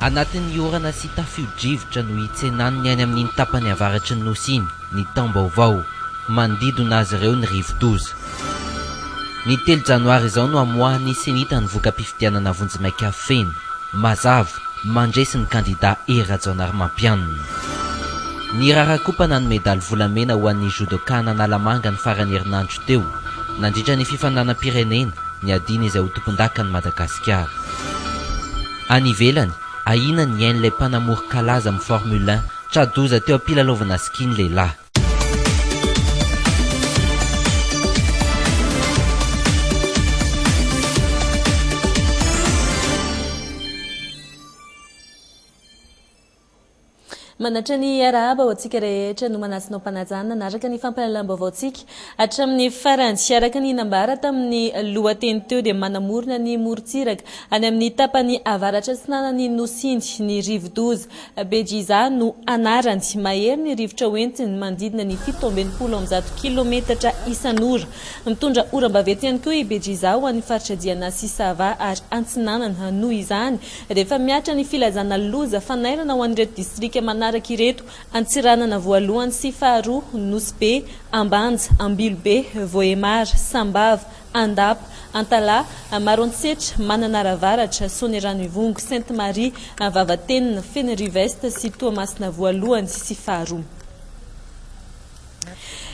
Anatin'ny orana sy tafio-drivotra no hitsenan'ny any amin'iny tapany avaratry ny Nosy iny ny taom-baovao. Manodidina azy ireo ny rivo-doza. Ny telo janoary izao no hamoahan'ny Senita ny voka-pifidianana vonjimaika feno, mazava, mandresy ny kandidà Hery Rajaonarimampianina. Niraharaha kopa nanome daly volamena ho an'ny Judoka an'Analamanga ny faran'ny herinandro teo, nandritra ny fifaninanam-pirenena, ny adina izay ho tompondakan'i Madagasikara. Any ivelany, ahiana ny ain'ilay mpanamory kalaza amin'ny Formule un tra-doza teo am-pilalaovana ski ny lehilahy. Manatra ny arahaba ho antsika rehetra no manasinao mpanajana naraka ny fampalalam-baovaontsika hatramin'ny farany. Araka ny nambara tamin'ny lohateny teo dia manamorona ny morontsiraka any amin'ny tapany avaratra atsinanan'ny nosin'ny rivodoza Bejiza no anarany. Mahery ny rivotra hoentiny manodidina ny fito amby enimpolo amby zato kilaometatra isan'ora. Mitondra oram-baventy ihany koa i Bejiza ho an'ny faritra Diana sy Sava ary Antsinanana. Noho izany, rehefa mihatra ny filazana loza fanairana ho an'ireto distrika manaraka ireto, Antsiranana voalohany sy faharoa, Nosy Be, Ambanja, Ambilobe, Vohemar, Sambava, Andapa, Antalaha, Maroantsetra, Mananara Avaratra, Soanierano Ivongo, Sainte Marie, Vavatenina, Fenerive Est sy Toamasina voalohany sy faharoa.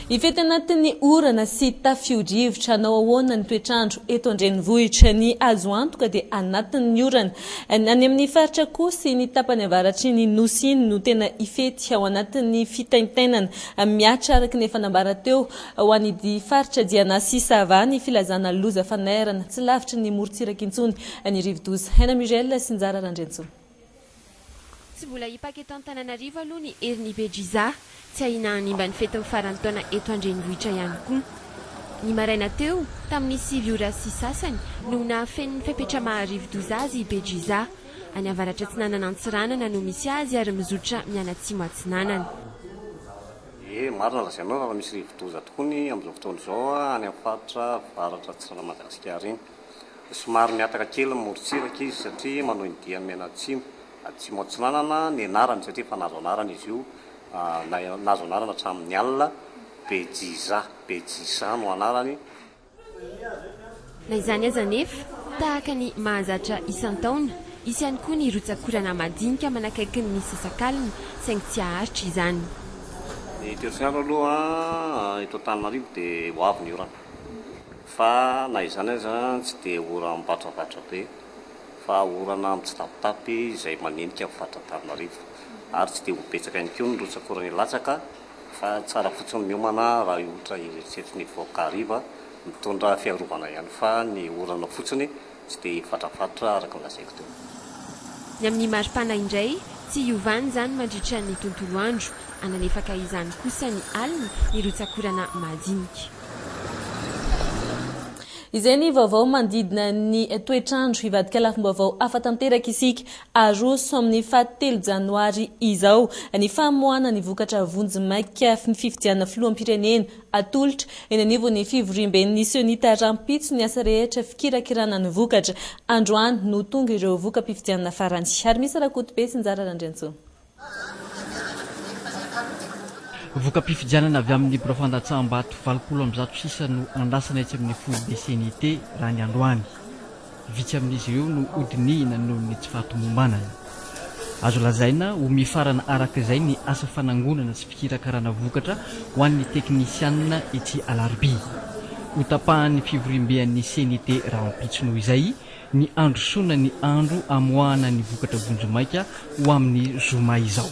Hifety anatin'ny orana sy tafio-drivotra hanao ahoana ny toetr'andro eto an-drenivohitra? Ny azo antoka dia anatin'ny orana. Ny any amin'ny faritra koa sy ny tapany avaratry ny Nosy iny no tena hifety ao anatin'ny fitaintainana. Mihatra araka ny efa nambara teo Ho any dy faritra Diana sy Sava ny filazana loza fanairana, tsy lavitry ny morontsiraka intsony ny rivodoza. Haina Muriel sy Njara Randriantsoa. Tsy mbola hipaka eto Antananarivo aloha ny herin'i Bedjiza, tsy ahiana hanimba ny fetin'ny faran'ny taona eto an-drenivohitra ihany koa. Ny maraina teo, tamin'ny sivy ora sy sasany, no nahafenin'ny fepetra maha-rivodoza azy i Bedjiza. Any avaratra atsinanan'Antsiranana no misy azy ary mizotra mianatsimo atsinanana. Ie, marina ny lazainao raha misy rivodoza tokoa ny amin'izao fotoana izao any amin'ny faritra avaratra atsinanan'i Madagasikara iny. Somary mihataka kely ny morontsiraka izy satria manohy ny diany mianatsimo, atsimo atsinanana ny anarany satria efa nahazo anarana izy io, nahazo anarana hatramin'ny alina, Bejisa, Bejisa no anarany. Na izany aza anefa, tahaka ny mahazatra isan-taona, hisy ihany koa ny rotsak'orana madinika manakaiky ny misasakalina, saingy tsy haharitra izany. Ny terofiandro aloha eto Antananarivo dia ho avy ny orana, fa na izany aza tsy dia orana mivatravatra be, fa orana mitsitapitapy izay manenika ny faritra Antananarivo, ary tsy dia ho betsaka ihany koa ny rotsak'orana hilatsaka. Fa tsara fotsiny miomana raha ohatra eritreritry ny vahoaka hariva mitondra fiarovana ihany fa ny orana fotsiny tsy dia hifatrafatra araka ny lazaiko teo. Ny amin'ny maripana indray tsy hiovany izany mandritra ny tontolo andro, hanalefaka izany kosa ny alina ny rotsakorana mahajinika. Izay ny vaovao manodidina ny toetr'andro. Hivadika lafim-baovao hafa tanteraka isika Aroso amin'ny faha telo janoary izao ny famoahana ny vokatra vonjimaika ny fifidianana filoham-pirenena. Atolotra eny anivon'ny fivoriamben'ny Sionita rahampitso ny asa rehetra fikirakirana ny vokatra. Androany no tonga ireo voka-pifidianana farany. Harimisa Rakotobe sy Njara Randriantsoa. Voka-pifidianana avy amin'ny birao fandatsaham-bato valopolo amby zato sisa no andrasana etsy amin'ny foibe CNIT raha ny androany. Vitsy amin'izy ireo no hodinihina noho ny tsy fahatomombanana. Azo lazaina ho mifarana araka izay ny asa fanangonana sy fikirakarana vokatra ho an'ny teknisianina ity alarobia. Hotapahan'ny fivoriambe an'ny CNIT rahampitso noho izay ny handrosoana ny andro hamoahana ny vokatra vonjimaika ho amin'ny zoma izao.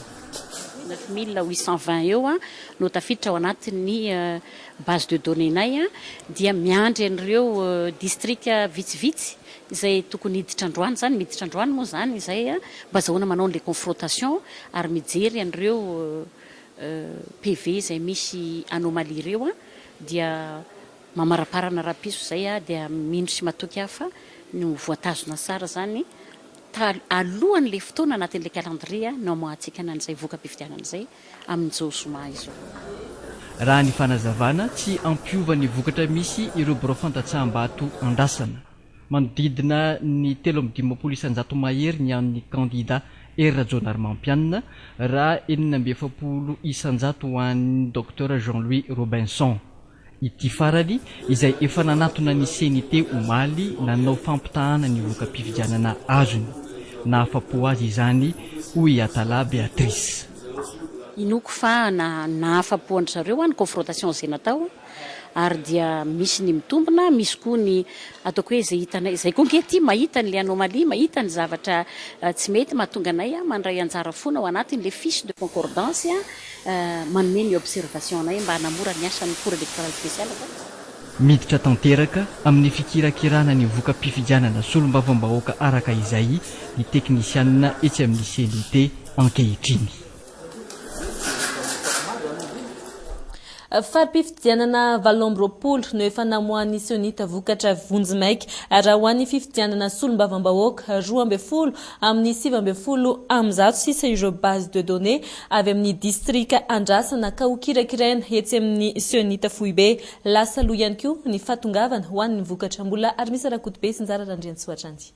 Neuf mille huit cent vingt eo no tafiditra ao anatin'ny base de données-nay dia miandry an'ireo distrika vitsivitsy izay tokony hiditra androany izany, miditra androany moa izany izay mba azahoana manao an'ilay confrontation ary mijery an'ireo PV izay misy anomalie ireo dia Mamaraparana rapiso zay ah dia mino sy matoky ah fa ny ho voatazona tsara zany tal alohan le fotoana anatin le calendrier ah no amoahantsika na an'izay voka pifidianana zay amin zao zoma izao. Raha ny fanazavana, tsy ampiova ny vokatra misy ireo birao fandatsaham-bato andrasana. Manodidina ny telo amby dimampolo isanjato mahery ny an'ny kandida Hery Rajaonarimampianina, raha enina amby efapolo isanjato ho an'ny Docteur Jean Louis Robinson. Ity farany, izay efa nanatona ny CNIT omaly nanao fampitahana ny voka-pifidianana azony. Nahafa-po azy izany, hoy i Atala Béatrice. Inoako fa nahafa-po an-dry zareo ny confrontation izay natao ary dia misy ny mitombina, misy koa ny ataoko hoe izay hitanay izay. Koa ange ity mahita an'ilay anomalie, mahita ny zavatra tsy mety mahatonga anay mandray anjara foana ao anatin'ilay fiche de concordance. manome ny observation-nay mba hanamora ny asan'ny Cour Electorale Speciale fa. Miditra tanteraka amin'ny fikirakirana ny voka-pifidianana solombavambahoaka araka izay ny teknisianina etsy amin'ny cnit ankehitriny. Fari-pifidianana valo amby roapolo no efa namoahan'ny Sionita vokatra vonjimaika raha ho an'ny fifidianana solombavambahoaka roa ambin'ny folo amin'ny sivy ambin'ny folo amby zato sisa ireo base de données avy amin'ny distrika andrasana ka hokirakiraina etsy amin'ny Sionita foibe. Lasa lo ihany koa ny fahatongavana ho an'ny vokatra. Mbola Armisa Rakotobe sy Njara Randriantsoa hatrany.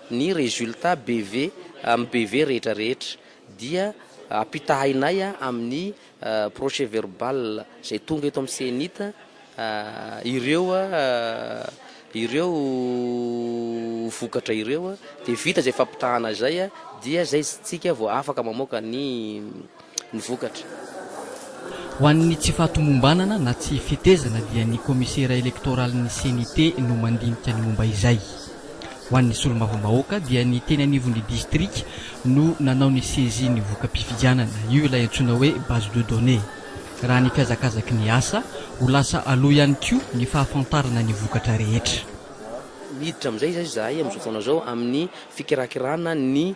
Ny résultat BV amin'ny BV rehetra rehetra dia ampitahainay amin'ny procès-verbal izay tonga eto amin'ny CENIT ireo ireo vokatra ireo dia vita izay fampitahana izay dia izay isika vao afaka mamoaka ny ny vokatra. Ho an'ny tsy fahatomombanana na tsy fetezana dia ny kaomisera elektoralin'ny CNIT no mandinika ny momba izay. Ho an'ny solombavambahoaka dia ny teny anivon'ny distrika no nanao ny saisie ny voka-pifidianana. Io ilay antsoina hoe base de données. Raha ny fihazakazaky ny asa, ho lasa aloha ihany koa ny fahafantarana ny vokatra rehetra. Miditra amin'izay izay izahay amin'izao fotoana izao amin'ny fikirakirana ny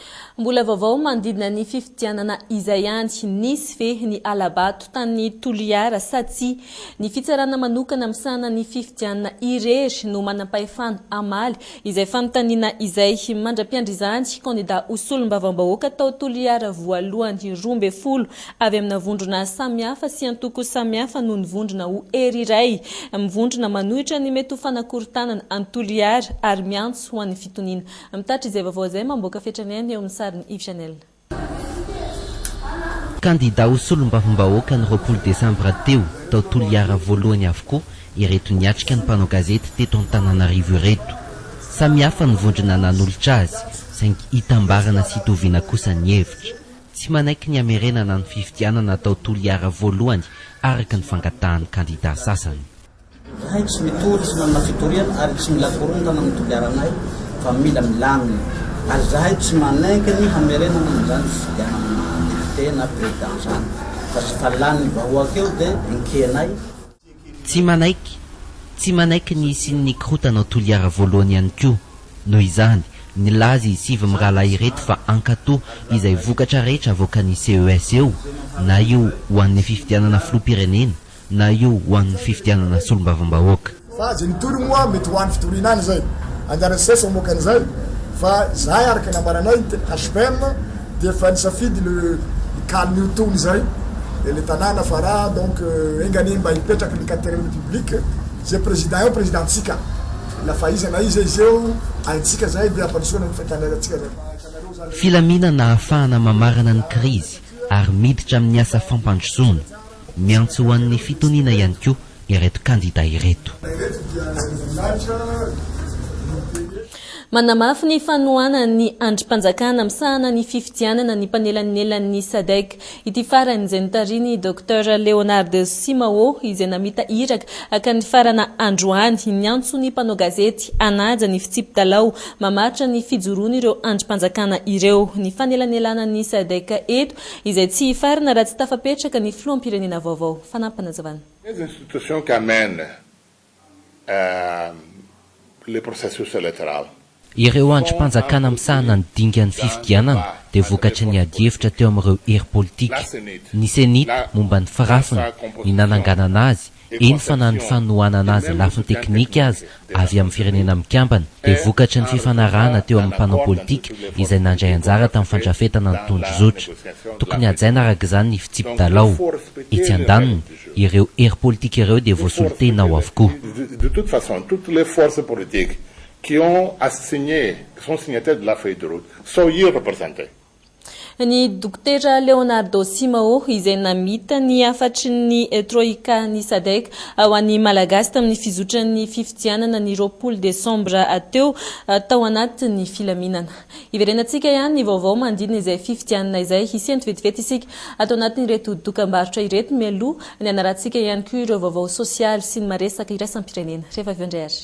Mbola vaovao manodidina ny fifidianana izay ihany, nisy ve ny hala-bato tany Toliara sa tsia? Ny fitsarana manokana misahana ny fifidianana irery no manam-pahefana hamaly izay fanontaniana izay. Mandra-piandry izany, kandida ho solombavambahoaka tao Toliara voalohany roa ambin'ny folo avy amina vondrona samihafa sy antoko samihafa no nivondrona ho hery iray mivondrona manohitra ny mety ho fanakorontanana an'i Toliara ary miantso ho an'ny fitoniana Mitatitra izay vaovao izay mamboaka fetrany any eo amin'ny sarin'i Yves Janel. Kandida ho solombavambahoaka ny roapolo desambra teo, tao Toliara voalohany avokoa ireto niatrika ny mpanao gazety teto Antananarivo ireto. Samy hafa ny vondrona nanolotra azy, saingy itambarana sy itoviana kosa ny hevitra. Tsy manaiky ny hamerenana ny fifidianana tao Toliara voalohany araka ny fangatahan'ny kandida sasany. Izahay tsy mitory, tsy manana fitoriana ary tsy mila korontana amin'ny toliara anay fa mila milamina ary izahay tsy manaiky ny hamerenana an'izany fifidianana maha député na président izany fa tsy fa lanin'ny vahoaka eo dia enkehinay. Tsy manaiky, tsy manaiky ny hisian'ny korotana ao Toliara voalohany ihany koa. Noho izany, nilaza i Siv mirahalahy ireto fa hankato izay vokatra rehetra avoakan'ny CES eo na io ho an'ny fifidianana filoham-pirenena na io ho an'ny fifidianana solombavambahoaka. Fa izay nitory moa mety ho an'ny fitoriana any izay. Anjaran'ny ces mamoaka an'izay. Fa izahay araka ny nambaranay ny HPM dia efa nisafidy le hikalo io tony izay le tanàna fa raha donc enga anie mba hipetraky ny quatrième république izay président eo président-tsika na fa iza na iza izy eo haintsika izay dia hampandrosoana ny fiainantsika izay. Filaminana ahafahana mamarana ny krizy ary miditra amin'ny asa fampandrosoana. Miantso ho an'ny fitoniana ihany koa ireto kandida ireto. Manamafy ny fanohanany ny andrim-panjakana misahana ny fifidianana ny mpanelanelan'ny Sadec ity farany izay notarihin'i Docteur Leonard Simao izay namita iraka haka ny farana androany niantso ny mpanao gazety hanaja ny fitsipi-dalao mamaritra ny fijoroan'ireo andrim-panjakana ireo ny fanelanelanan'ny Sadec eto Izay tsy hifarana raha tsy tafapetraka ny filoham-pirenena vaovao. Fanampinazavana. Des institutions qui amènent le processus électoral. Ireo andrim-panjakana misahana ny dingan'ny fifidianana dia vokatry ny adihevitra teo amin'ireo hery politika, ny Cenit momba ny firafiny, ny nananganana azy, eny fa na ny fanohanana azy lafiny teknika aza avy amin'ny Firenena Mikambana dia vokatry ny fifanarahana teo amin'ny mpanao politika izay nandray anjara tamin'ny fandrafetana ny tondrozotra. Tokony hajaina araka izany ny fitsipi-dalao. Etsy andaniny, ireo hery politika ireo dia voasolotena ao avokoa. Ny Dokotera Leonardo Simao izay namita ny hafatry ny Troika ny Sadec ho an'ny Malagasy tamin'ny fizotran'ny fifidianana ny roapolo desambra teo tao anatin'ny filaminana. Hiverenantsika ihany ny vaovao manodidina izay fifidianana izay hisento vetivety isika ato anatin'ireto dokambarotra ireto mialoha ny hanarahantsika ihany koa ireo vaovao sosialy sy ny maresaka iraisam-pirenena. Rehefa avy eo indray ary.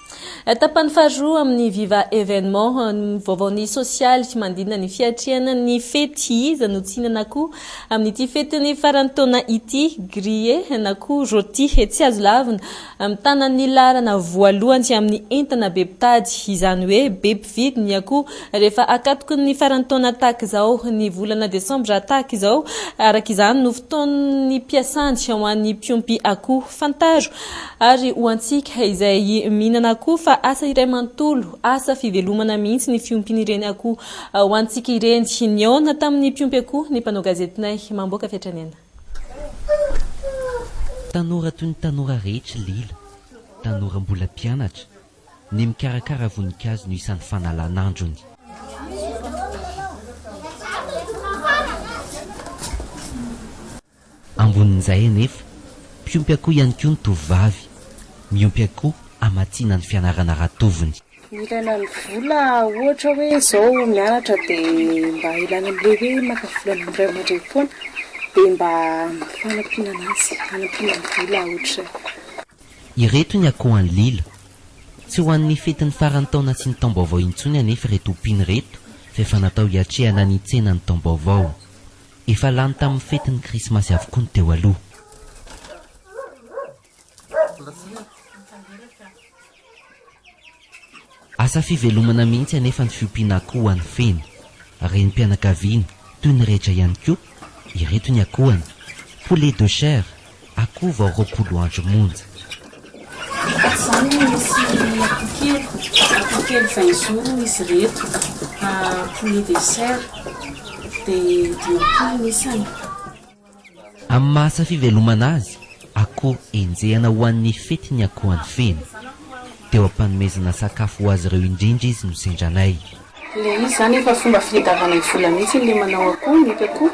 Tapany faharoa amin'ny Viva Evenement, ny vaovaon'ny sosialy mandinina ny fiatrehana ny fety. Iza no tsy hihinana akoho amin'ity fetin'ny faran'ny taona ity? Grillé na koa rôti. Tsy azo lavina, mitana ny laharana voalohany amin'ny entana be mpitady. Izany hoe be mpividy ny akoho rehefa akatoky ny faran'ny taona tahaka izao. Ny volana desambra tahaka izao, araka izany, no fotoan'ny mpiasany ho an'ny mpiompy akoho. Fantaro Ary ho antsika izay mihinana akoho fa asa iray manontolo, asa fivelomana mihitsy ny fiompin'ireny akoho ho antsika ireny. Nihaona tamin'ny mpiompy akoho ny mpanao gazetinay mamboaka fiantranaina. Tanora toy ny tanora rehetra lela, tanora mbola mpianatra, ny mikarakara voninkazo no isan'ny fanalan'androny. Ambonin'izay anefa, mpiompy akoho ihany koa ny tovovavy, miompy akoho hamatsiana ny fianarana ratovony. Ilaina ny vola ohatra hoe izao mianatra dia mba ilaina amin'ilay hoe maka vola ny ray aman-dreny foana dia mba fanampiana an'azy, hanampiana ny vola ohatr'izay. Ireto ny akohan'i Lila. Tsy ho an'ny fetin'ny faran'ny taona sy ny taom-baovao intsony anefa ireto ompiana ireto fa efa natao hiatrehana ny tsenan'ny taom-baovao. Efa lany tamin'ny fetin'ny krismasy avokoa ny teo aloha. Asa fivelomana mihitsy anefa ny fiompiana akoho ho an'ny feno. Renim-pianakaviana, toy ny rehetra ihany koa, ireto ny akohony. Poulet de chair, Akoho vao roapolo andro monja. Tahaka izany no nisy akoho kely, akoho kely vin jours hoy izy ireto, poulet de chair, dia dimampolo ny isany. Amin'ny maha safivelomana azy, akoho enjehana ho an'ny fety ny akoho any Feno. Teo am-panomezana sakafo ho azy ireo indrindra izy no sendranay. Ilay izy izany efa fomba fitadiavana vola mihitsy ilay manao akoho, nety akoho,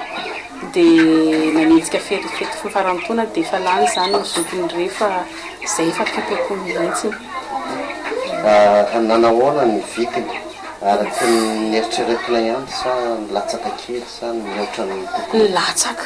dia nanenjika fety fety farantaona dia efa lany izany ny zokiny rehefa izay efa fety akoho mihitsy. Nanahoana ny vidiny? Araka ny neritreretinay ihany sa nilatsaka kely sa nihoatra ny tokony ho izy? Nilatsaka.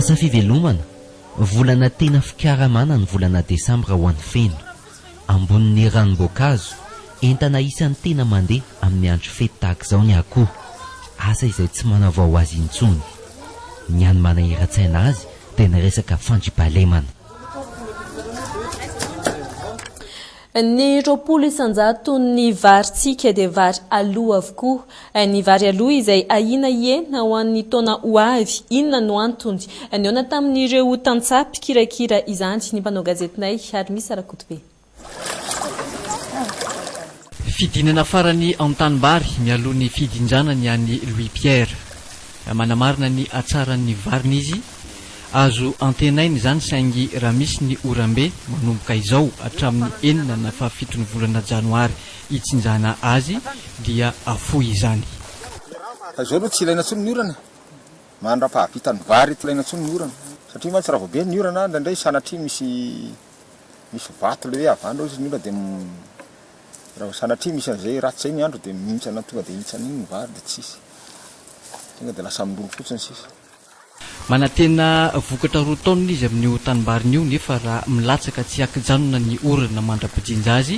Asa fivelomana, volana tena fikaramana ny volana desambra ho an'ny feno. Ambonin'ny ranom-boankazo, entana isan'ny tena mandeha amin'ny andro fety tahaka izao ny akoho, asa izay tsy manavao azy intsony. Ny hany manahiran-tsaina azy dia ny resaka fandriampahalemana. Ny roapolo isan-jaton'ny varintsika dia vary aloa avokoa. Ny vary aloa izay ahiana hihena ho an'ny taona ho avy. Inona no antony? Nihaona tamin'ireo tantsaha mpikirakira izany ny mpanao gazetinay, Harimisa Rakotobe. Fidinana farany an-tanimbary mialoha ny fidindrana ny an'i Louis Pierre. Manamarina ny hatsaran'ny variny izy. Azo antenaina izany saingy raha misy ny oram-be manomboka izao hatramin'ny enina na fahafiton'ny volana janoary hitsinjana azy dia afoy izany. Fa izao aloha tsy ilaina intsony ny orana e! Mandra-pahavitan'ny vary tsy ilaina intsony ny orana. Satria mantsy raha vao be ny orana indraindray sanatria misy misy vato ilay hoe havanao izy ny orana dia raha vao sanatria misy an'izay ratsy izay ny andro dia mihintsana tonga dia hihintsana iny ny vary dia tsisy. Tonga dia lasa miroro fotsiny sisa. Manantena vokatra roa taonina izy amin'io tanimbariny io nefa raha milatsaka tsy ankijanona ny orana mandra-pijinja azy,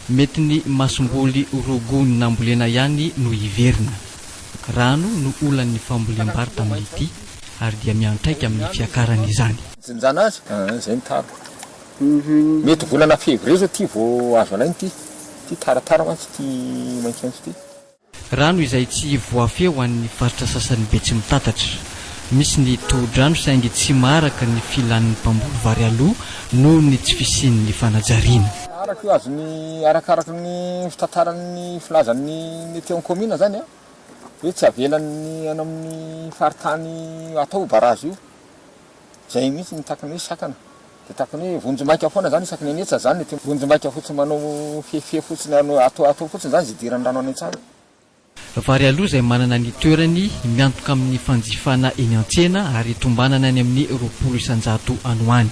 mety ny masomboly roa gony nambolena ihany no hiverina. Rano no olan'ny fambolem-bary tamin'ity ary dia miantraika amin'ny fiakarany izany. Jinjana azy, izay ny tara. Mety volana février izao ity vao azo alaina ity. Ity tara tara mantsy ity maitsomaitso ity. Rano izay tsy voafehy ho an'ny faritra sasany Betsimitatatra. Misy ny tohodrano saingy tsy maharaka ny filan'ny mpamboly vary aloa noho ny tsy fisian'ny fanajariana. Araka io azon'ny arakaraka ny fitantaran'ny filazan'ny Meteo ny kaominina izany hoe tsy avelan'ny any amin'ny faritany atao io barazy io. Izay mihitsy no takany hoe sakana. Dia tahaka ny hoe vonjimaika foana izany isaky ny hanetsa izany ity vonjimaika fotsiny manao fefifefy fotsiny ary atao atao fotsiny izany izay idiran'ny rano any an-tsaha. Vary aloha izay manana ny toerany miantoka amin'ny fanjifana eny an-tsena ary tombanana any amin'ny roapolo isan-jato any ho any.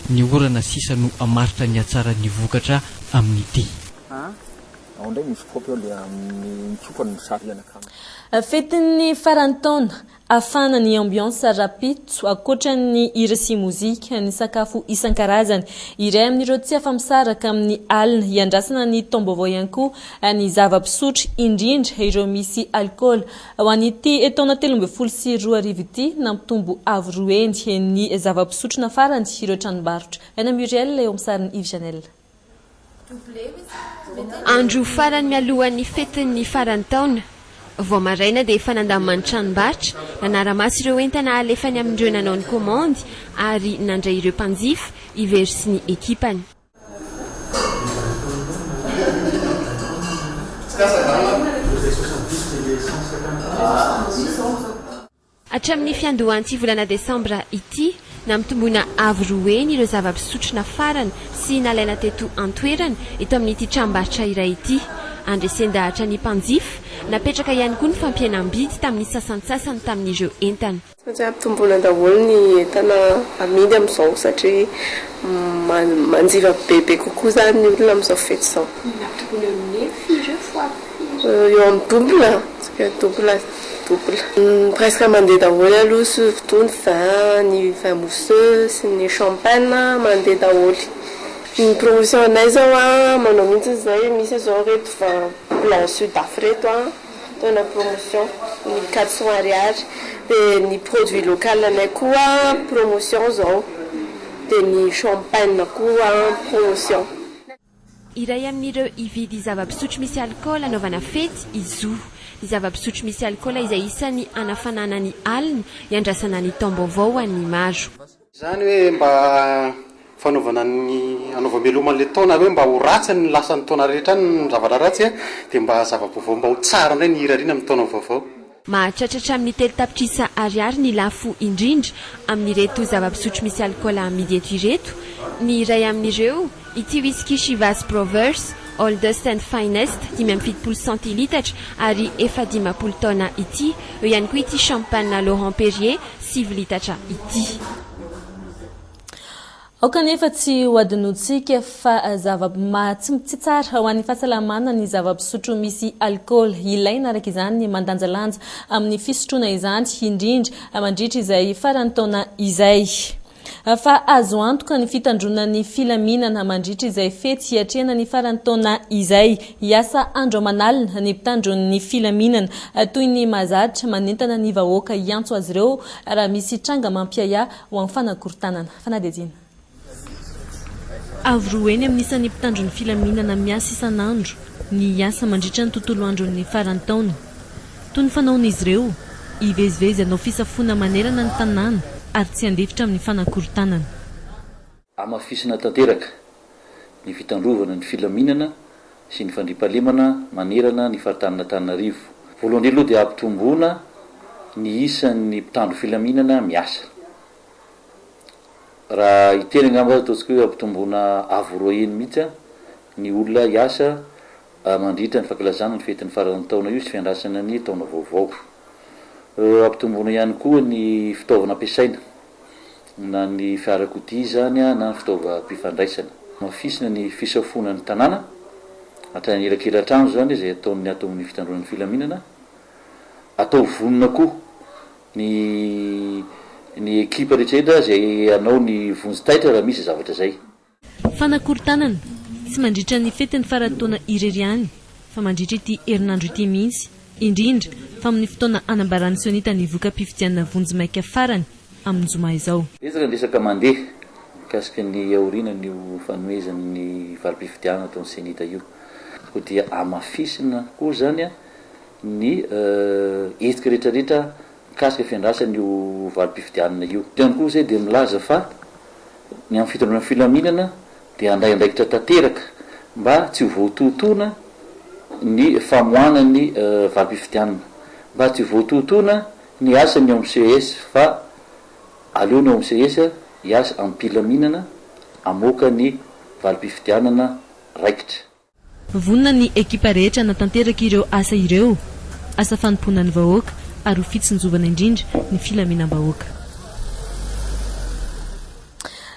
Ny orana sisa no hamaritra ny hatsaran'ny vokatra amin'ity. Ao indray misy kaopy ao ilay amin'ny mitsoka no misarihana kanto. Fetin'ny faran'ny taona, Afana ny ambiance rapitso, ankoatra ny hira sy mozika, ny sakafo isan-karazany. Iray amin'ireo tsy afa-misaraka amin'ny alina hiandrasana ny taom-baovao ihany koa ny zava-pisotro, indrindra ireo misy alikaola. Ho an'ity taona telo ambin'ny folo sy roa arivo ity, nampitombo avo roa heny ny zava-pisotro nafarany ireo tranombarotra. Aina Muriel eo amin'ny sarin'i Yves Janel. Andro farany mialohan'ny fetin'ny faran'ny taona, vao maraina dia efa nandamin'ny tranombarotra nanara-maso ireo entana alefany amin'ireo nanao ny komandy ary nandray ireo mpanjifa i Very sy ny ekipany. Hatramin'ny fiandohan'ity volana desambra ity, nampitomboina avo roa heny ireo zava-pisotro nafarana sy nalaina teto an-toerana eto amin'ity tranombarotra iray ity. Andresen-dahatra ny mpanjifa, napetraka ihany koa ny fampihenam-bidy tamin'ny sasantsasany tamin'ireo entana. Satria ampitomboina daholo ny entana amidy amin'izao satria manjifa bebe kokoa izany ny olona amin'izao fety izao. Nampitomboina amin'ny firy ireo foagna? Eo amin'ny double, double, double. Presque mandeha daholo aloha soufy tony za, ny vin mousseux sy ny champagne mandeha daholo. Ny promotion anay izao an, manao mihitsy izay, misy izao ireto vin blanc sud af ireto an, atao anaty promotion, ny quatre cents ariary. Dia ny produit local anay koa promotion izao, dia ny champagne koa promotion. Iray amin'ireo hividy zava-pisotro misy alikaola hanaovana fety i Zo. Ny zava-pisotro misy alikaola izay isan'ny hanafanana ny alina, hiandrasana ny taom-baovao ho an'ny maro. Izany hoe mba fanaovana ny hanaovam-beloma an'ilay taona hoe mba ho ratsy ny lasan'ny taona rehetra any ny zavatra ratsy dia mba zava-baovao mba ho tsara indray ny hirariana amin'ny taona vaovao. Mahatratra hatramin'ny telo tapitrisa Ariary ny lafo indrindra amin'ireto zava-pisotro misy alikaola amidy eto ireto. Ny iray amin'ireo, ity whisky Chivas Brothers, Oldest and Finest, dimy amby fitopolo centilitatra ary efa dimampolo taona ity. Eo ihany koa ity champagne Laurent Perrier, sivy litatra ity. Aoka anefa tsy hohadinointsika fa zava-tsy tsy tsara ho an'ny fahasalamana ny zava-pisotro misy alikaola. Ilaina araka izany ny mandanjalanja amin'ny fisotroana izany, indrindra mandritra izay faran'ny taona izay. Fa azo antoka ny fitandroanan'ny filaminana mandritra izay fety hiatrehana ny faran'ny taona izay. Hiasa andro aman'alina ny mpitandro ny filaminana toy ny mahazatra, manentana ny vahoaka hiantso azy ireo raha misy tranga mampiahiahy ho amin'ny fanakorontanana. Fanadihadiana. Avo roa heny amin'ny isan'ny mpitandro ny filaminana miasa isan'andro ny hiasa mandritra ny tontolo andron'ny faran'ny taona. Toy ny fanaon'izy ireo, hivezivezy hanao fisafoana manerana ny tanàna ary tsy handefitra amin'ny fanakorontanana. Hamafisina tanteraka ny fitandrovana ny filaminana sy ny fandriampahalemana manerana ny faritanin'Antananarivo. Voalohany indrindra aloha dia hampitomboana ny isan'ny mpitandro filaminana miasa. Raha hiteny angamba ataontsika hoe hampitomboana avo roa heny mihitsy ny olona hiasa mandritra ny fankalazana ny fetin'ny faran'ny taona io sy fiandrasana ny taona vaovao. Hampitomboana ihany koa ny fitaovana ampiasaina. na ny fiarakodia izany na ny fitaovam-pifandraisana. Hamafisina ny fisafoana ny tanàna, hatrany anelakelan-trano izany izay ataon'ny ato amin'ny fitandroana ny filaminana. Ataovy vonona koa ny ny ekipa rehetra rehetra izay hanao ny vonjy taitra raha misy zavatra izay. Fanakorontanana, tsy mandritra ny fetin'ny faran'ny taona irery ihany, fa mandritra ity herinandro ity mihitsy, indrindra fa amin'ny fotoana hanambaran'ny Sionita ny voka-pifidianana vonjimaika farany amin'ny zoma izao. Betsaka ny resaka mandeha mikasika ny aorianan'io fanomezan'ny valim-pifidianana ataon'ny Sionita io. Koa dia hamafisina koa izany ny hetsika rehetrarehetra. mikasika fiandrasana io valim-pifidianana io. Eto ihany koa izay dia milaza fa ny amin'ny fitondràna filaminana dia handray andraikitra tanteraka mba tsy ho voatoatoana ny famoahana ny valim-pifidianana, mba tsy ho voatoatoana ny asan'ny OMCS fa aleo ny OMCS hiasa amim-pilaminana hamoaka ny valim-pifidianana raikitra. Vonona ny ekipa rehetra hanatanteraka ireo asa ireo, asa fanompoana ny vahoaka ary ho fitsinjovana indrindra ny filaminam-bahoaka.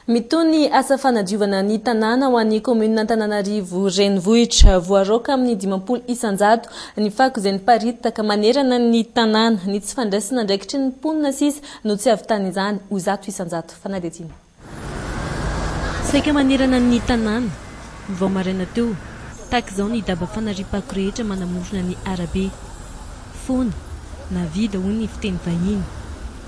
Mitohy ny asa fanadiovana ny tanàna ho an'ny kaominina Antananarivo Renivohitra. Voaraoka amin'ny dimampolo isan-jato ny fako izay niparitaka manerana ny tanàna. Ny tsy fandraisana andraikitry ny mponina sisa no tsy avitan'izany ho zato isan-jato. Fanadihadiana. Saika manerana ny tanàna, vao maraina teo, tahaka izao ny daba fanariam-pako rehetra manamorona ny arabe. Foana, na vide hoy ny fiteny vahiny.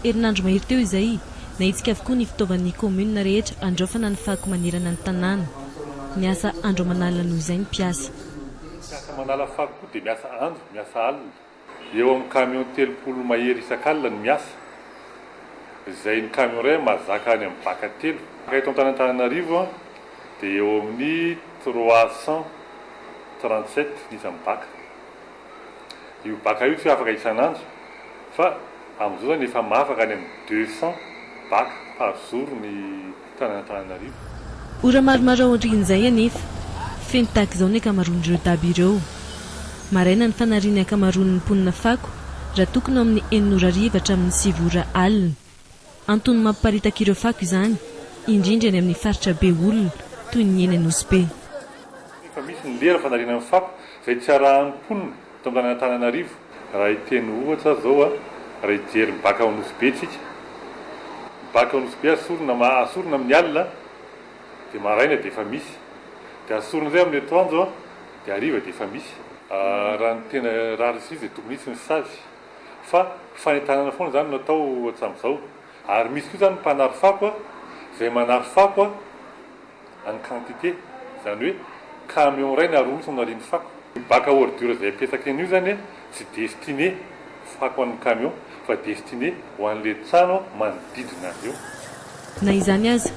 Herinandro mahery teo izay, nahetsika avokoa ny fitaovan'ny kaominina rehetra handraofana ny fako manerana ny tanàna. Niasa andro aman'alina noho izay ny mpiasa. Miasa aman'ala fako koa dia miasa andro, miasa alina. Eo amin'ny camion telopolo mahery isak'alina no miasa, izay ny camion iray mahazaka any amin'ny baka telo. Eto Antanantananarivo dia eo amin'ny trois cent trente sept ny isan'ny baka. Io baka io tsy hoe afaka isan'andro fa amin'izao izany efa mahafaka any amin'ny deux cent baka par jour ny. tany Antananarivo. Ora maromaro aorian'izay anefa, feno tahaka izao ny ankamaroan'ireo daba ireo. Maraina ny fanarian'ny ankamaroan'ny mponina fako raha tokony ao amin'ny enina ora hariva hatramin'ny sivy ora alina. Antony mamparitaka ireo fako izany, indrindra eny amin'ny faritra be olona toy ny eny Anosibe. Efa misy ny lera fanariana ny fako izay tsy arahan'ny mponina. Tonga any Antananarivo, raha hiteny ohatra ary zao a, raha hijery ny bac ao Nosy Be tsika, ny bac ao Nosy Be asorina ma, asorina amin'ny alina dia maraina dia efa misy, dia asorina indray amin'ny atoandro a, dia hariva dia efa misy. Raha ny tena rarisy dia tokony hisy ny stage, fa fanentanana foana izany no atao hatramin'izao, ary misy koa izany ny mpanary fako a, izay manary fako a, en quantité, izany hoe camion iray na roa mihitsy no nariany fako. Io bac à ordures izay apetsaka eny io izany an, tsy destiné fako an'ny camion fa destiné ho an'ilay trano manodidina azy eo. Na izany aza,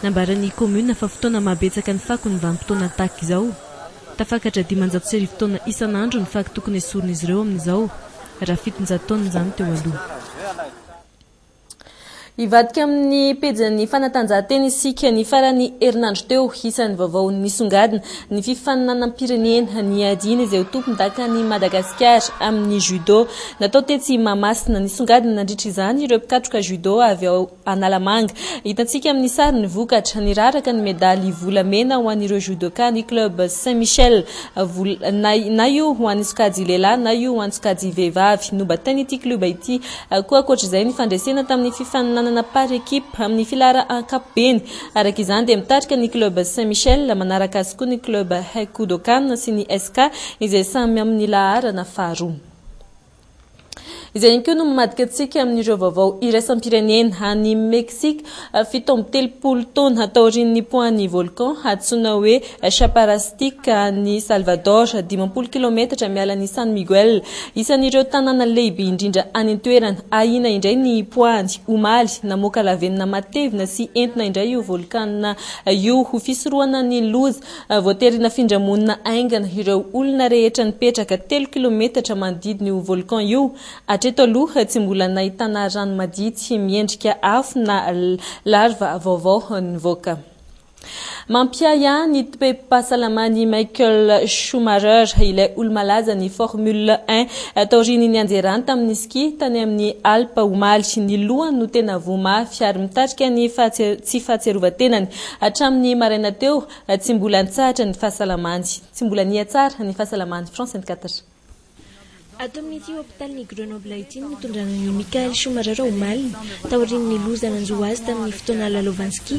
nambaran'ny commune fa fotoana mahabetsaka ny fako ny vanim-potoana tahaka izao. Tafakatra dimanjato sy arivo taona isan'andro ny fako tokony esorin'izy ireo amin'izao, raha fitonjato taona izany teo aloha. Hivadika amin'ny pejin'ny fanatanjahantena isika ny faran'ny herinandro teo. Isan'ny vaovao nisongadina ny fifaninanam-pirenena niadiana izay ho tompondakan'i Madagasikara amin'ny judo natao tetsy Mahamasina. Nisongadina nandritra izany ireo mpikatroka judo avy ao Analamanga. Hitantsika amin'ny sary ny vokatra. Niraraka ny medaly volamena ho an'ireo judoka ny club Saint Michel. Na io ho an'ny sokajy lehilahy na io ho an'ny sokajy vehivavy. Nobatain'ity klioba ity Koa ankoatra izay, ny fandresena tamin'ny fifaninanana par équipe amin'ny filara ankapobeny. Araka izany dia mitarika ny club Saint Michel, manaraka azy koa ny club Haikudokan sy ny SK izay samy amin'ny laharana faharoa. Izay ihany koa no mamadika antsika amin'ireo vaovao iraisam-pirenena any Mexique. Fito amby telopolo taona taorian'ny poahan'ny volcan antsoina hoe Chaparrastic any Salvador, dimampolo kilaometatra miala an'i San Miguel, isan'ireo tanàna lehibe indrindra any an-toerana, ahiana indray ny poahany omaly. Namoaka lavenona matevina sy entona indray io volcan io ho fisorohana ny loza. Voatery nafindra monina haingana ireo olona rehetra nipetraka telo kilaometatra manodidina io volcan io. Hatreto aloha, tsy mbola nahitana rano madity miendrika afo na larva vaovao nivoaka. Mampiahy ahy ny toe-pahasalaman'i Michael Schumacher, ilay olo-malaza ny Formule un, taorian'ny nianjerany tamin'ny ski tany amin'ny Alpes omaly. Ny lohany no tena voa mafy ary mitarika ny tsy fahatsiarovan-tenany. Hatramin'ny maraina teo, tsy mbola nitsahatra ny fahasalamany. Tsy mbola niha-tsara ny fahasalaman'i France vingt-quatre. Ato amin'ity hopitalin'i Grenoble ity no nitondrana an'i Michael Schumacher omaly, taorian'ny loza nanjo azy tamin'ny fotoana lalaovany ski,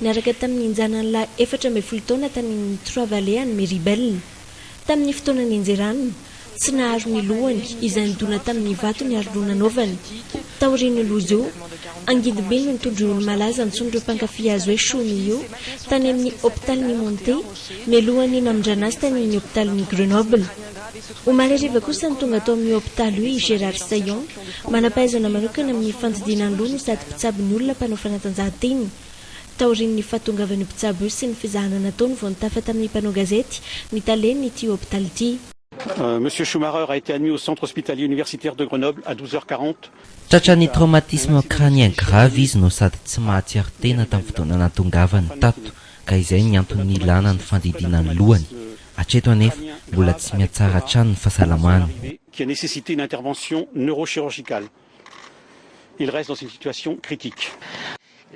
niaraka tamin'ny janany lahy efatra ambin'ny folo taona tany amin'ny Trois Vallées any Méribel. Tamin'ny fotoana nianjerany, tsy naharo ny lohany, izay nidona tamin'ny vato ny aroloha nanaovany. Taorian'io loza io, angidim-be no nitondra io olo-malaza antsoin'ireo mpankafy azy hoe Schumi io, tany amin'ny hopitalin'i Monte, mialohan'ny namindrana azy tany amin'ny hopitalin'i Grenoble. Omaly hariva kosa no tonga tao amin'io hopitaly io i Gérard Saillon, manam-pahaizana manokana amin'ny fandidiana ny loha no sady mpitsabo ny olona mpanao fanatanjahantena. Taorian'ny fahatongavan'io mpitsabo io sy ny fizahana nataony vao nitafa tamin'ny mpanao gazety ny talen'ity hopitaly ity. Monsieur Schumarer a été admis au Centre Hospitalier Universitaire de Grenoble à 12 heures 40. Tratran'ny traumatisme crânien grave izy no sady tsy mahatsiaro tena tamin'ny fotoana nahatongavany tato. ka izay ny antony nilana ny fandidiana ny lohany. Hatreto anefa mbola tsy mihatsara hatrany ny fahasalamany.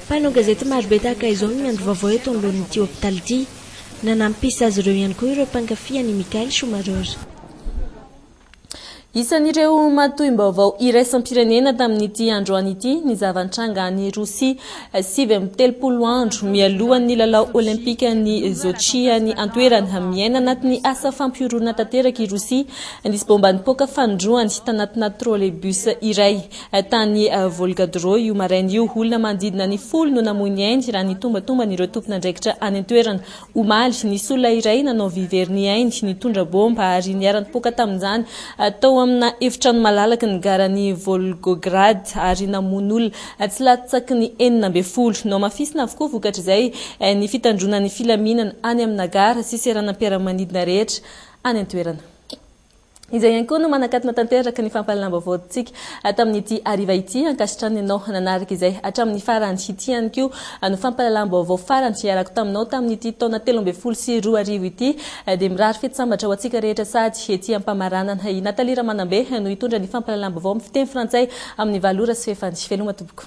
Mpanao gazety marobe tahaka izao no miandry vaovao eto anoloan'ity hopitaly ity. Nanampisy azy ireo ihany koa ireo mpankafy an'i Michael Schumarer. Isan'ireo matoim-baovao iraisam-pirenena tamin'ity androany ity ny zava-nitranga any Rosia, sivy amby telopolo andro mialohan'ny lalao Olimpikan'i Sochi any an-toerana. Miaina anatin'ny asa fampihoroana tanteraka i Rosia. Nisy baomba nipoaka fanindroany tanatina trolleybus iray tany Volgadro io maraina io. Olona manodidina ny folo no namoy ny ainy raha ny tombantomban'ireo tompon'andraikitra any an-toerana. Omaly, nisy olona iray nanao vy very ny ainy, nitondra baomba ary niara-nipoaka tamin'izany tao amina efitrano malalaky ny garan'i Volgograd ary namono olona tsy latsaky ny enina ambin'ny folo. Nohamafisina avokoa vokatr'izay ny fitandroana ny filaminana any amina gara sy seranam-piaramanidina rehetra any an-toerana. Izay ihany koa no manakatona tanteraka ny fampahalalam-baovaontsika tamin'ity hariva ity. Ankasitrana ianao nanaraka izay hatramin'ny farany. Ity ihany koa no fampahalalam-baovao farany iarako taminao tamin'ity taona telo ambin'ny folo sy roa arivo ity. Dia mirary fety sambatra ho antsika rehetra sahady ety Ampamaranana. I Nathalie Ramanambe no hitondra ny fampahalalam-baovao amin'ny fiteny frantsay amin'ny valo ora sy fahefany. Veloma tompoko.